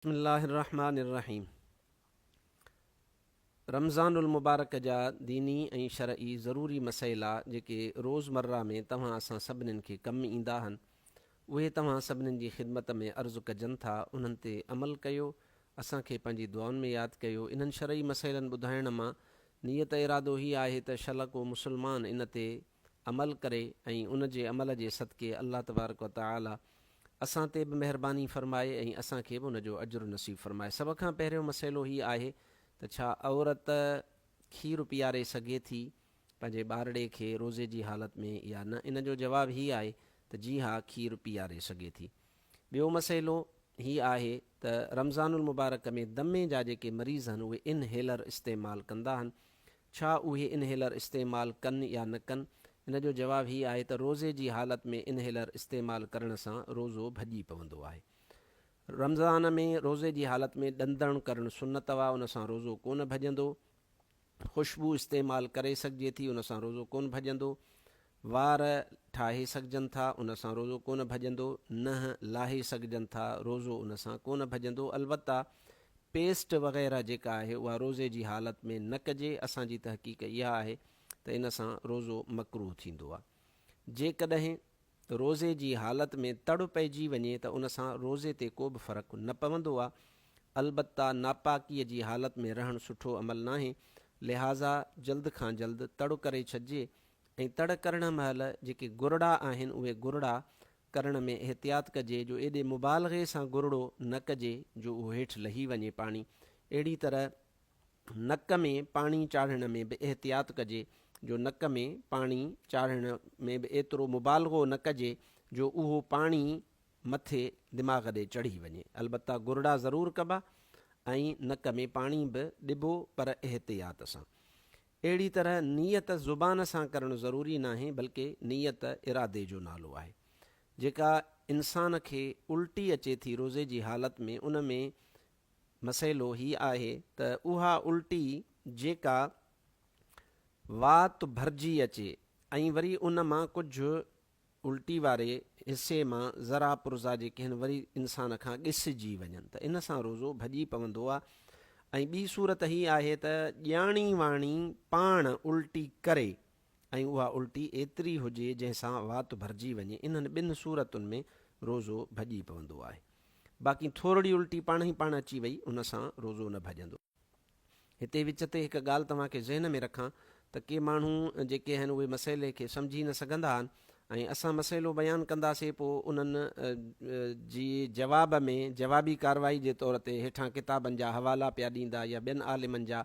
بسم الله الرحمٰن الرحيم رمضان المبارڪ جا ديني ۽ شرعي ضروري مسئلا جيڪي روزمره ۾ توهان اسان سڀنين کي ڪم ايندا هن اهي توهان سڀنين جي خدمت ۾ عرض ڪجن ٿا انهن تي عمل ڪيو اسان کي پنهنجي دعائن ۾ ياد ڪيو انهن شرعي مسئلن ٻڌائڻ مان نيت ارادو هي آهي ته شل ڪو مسلمان ان تي عمل ڪري ۽ ان جي عمل جي صدقي الله تبارڪ و تعالي اسان تي به مهرباني فرمائي ۽ اسان کي به ان جو اجر نصيب فرمائي. سڀ کان پهريون مسئلو هي آهي ته ڇا عورت کير پياري سگهي ٿي پنهنجي ٻارڙي کي روزي جي حالت ۾ يا نه؟ ان جو جواب هي آهي ته جي ها کير پياري سگهي ٿي. ٻيو مسئلو هي آهي ته رمضان المبارڪ ۾ دمي جا جيڪي مريض هن اهي ان هيلر استعمال ڪندا هن ڇا اهي ان هيلر استعمال ڪن يا نه ڪن ان جو جواب هي آهي ته روزي جي حالت ۾ ان هيلر استعمال ڪرڻ سان روزو ڀڄي پوندو آهي رمضان ۾ روزي جي حالت ۾ ڏندڻ ڪرڻ سنت اهي ان سان روزو ڪونه ڀڄندو خوشبو استعمال ڪري سگهجي ٿي ان سان روزو ڪونه ڀڄندو. وار ٺاهي سگهجن ٿا ان سان روزو ڪونه ڀڄندو. ننهن لاهي سگهجن ٿا روزو ان سان ڪونه ڀڄندو. البته پيسٽ وغيره جيڪا آهي اها روزي جي حالت ۾ نه ڪجي. اسان جي تحقيق اها آهي ته ان سان روزو مڪروه ٿيندو آهي. جيڪڏهن روزي جي حالت ۾ تڙ پئجي وڃي ته ان سان روزي تي ڪو به فرق نه پوندو آ، البته ناپاڪيء جي حالت ۾ رهڻ سٺو عمل ناهي، لهٰذا جلد کان جلد تڙ ڪري ڇڏجي ۽ تڙ ڪرڻ مهل جيڪي گرڙا آهن اهي گرڙا ڪرڻ ۾ احتياط ڪجي جو ايڏي مبالغي سان گرڙو نه ڪجي جو اهو هيٺ لهي وڃي پاڻي اهڙي طرح نڪ ۾ پاڻي چاڙهڻ ۾ به احتياط ڪجي جو نڪ ۾ پاڻي چاڙهڻ ۾ به ايترو مبالغو نه ڪجي جو اهو پاڻي مٿي دماغ ڏي چڙهي وڃي. البته گرڙا ضرور ڪبا ۽ نڪ ۾ پاڻي به ڏبو پر احتياط سان. اهڙي طرح نيت زبان سان ڪرڻ ضروري ناهي بلڪه نيت ارادي جو نالو آهي. جيڪا انسان کي الٽي اچي ٿي روزي جي حالت ۾ ان ۾ مسئلو هي آهي ته اها الٽي جيڪا وات ڀرجي اچي ۽ وري ان مان ڪجهه الٽي واري حصي مان ذرا پرزا جي ڪهن وري انسان کان ڳسجي وڃن ته ان سان روزو ڀڄي پوندو آهي ۽ ٻي صورت هي آهي ته ڄاڻي واڻي پاڻ الٽي ڪري ۽ اها الٽي ايتري هجي جنهن سان وات ڀرجي وڃي، انهن ٻن صورتن ۾ روزو ڀڄي پوندو آهي. باقي ٿورڙي الٽي پاڻ ئي پاڻ اچي وئي ان سان روزو نه ڀڄندو. هتي وچ تي هڪ ڳالهه توهان کي ذهن ۾ رکان ته ڪي ماڻهو جيڪي آهن اهي مسئلي کي سمجهي نه سگهندا آهن ۽ اسان مسئلو بيان ڪنداسين پوء انهن جي جواب ۾ جوابي ڪارروائي جي طور تي هيٺان ڪتابن جا حوالا پيا ڏيندا يا ٻين عالمن جا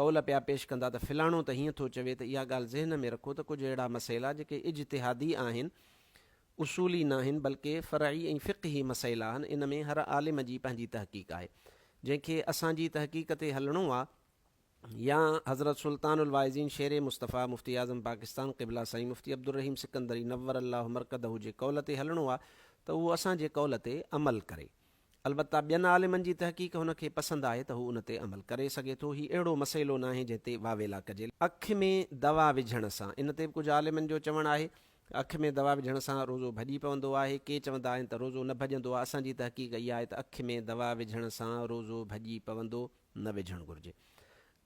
قول پيا پيش ڪندا ته فلاڻو ته هيئن ٿو چوي ته اها ڳالهه ذهن ۾ رکو ته ڪجهه اهڙا مسئلا جيڪي اجتهادي آهن، اصولي ناهن بلڪه فرعي ۽ فقهي مسئلا آهن ان ۾ هر عالم جي پنهنجي تحقيق آهي جنهن کي اسان جي تحقيق تي هلڻو آ يا حضرت سلطان الواعظين شير مصطفيٰ مفتي اعظم پاڪستان قبله سائين مفتي عبدالرحيم سڪندري نور الله مرقده جي قول تي هلڻو آ ته اهو اسان جي قول تي عمل ڪري. البته ٻين عالمن جي تحقيق هن کي پسند آهي ته هو ان تي عمل ڪري سگهي ٿو، هي اهڙو مسئلو ناهي جنهن تي واويلا ڪجي. اک ۾ دوا وجهڻ سان، ان تي به ڪجهه عالمن جو چوڻ آهي ته اک ۾ دوا وجهڻ سان روزو ڀڄي پوندو آهي، ڪي چوندا آهن ته روزو نه ڀڄندو آهي، اسان جي تحقيق اها آهي ته اک ۾ دوا وجهڻ سان روزو ڀڄي پوندو نه وجهڻ گهرجي.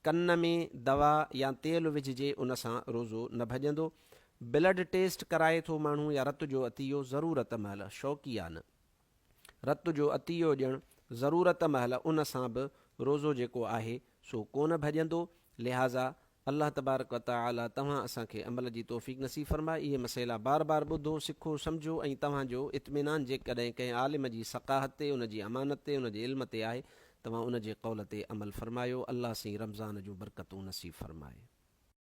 ڪن ۾ دوا يا تيل وجهجي ان سان روزو نه ڀڄندو. بلڊ ٽيسٽ ڪرائي ٿو ماڻهو يا رت جو عطيو ضرورت مهل، شوقيانه. رت جو عطيو ڏيڻ ضرورت مهل ان سان به روزو جيڪو آهي سو ڪونه ڀڄندو لهٰذا الله تبارڪ و تعالي توهان اسان کي عمل جي توفيق نصيب فرمائي اهي مسئلا بار بار ٻڌو سکو سمجهو ۽ توهان جو اطمينان جيڪڏهن ڪنهن عالم جي ثقاهت تي ان جي امانت تي ان جي علم تي آهي توهان ان جي قول تي عمل فرمايو الله سين رمضان جون برڪتون نصيب فرمائي.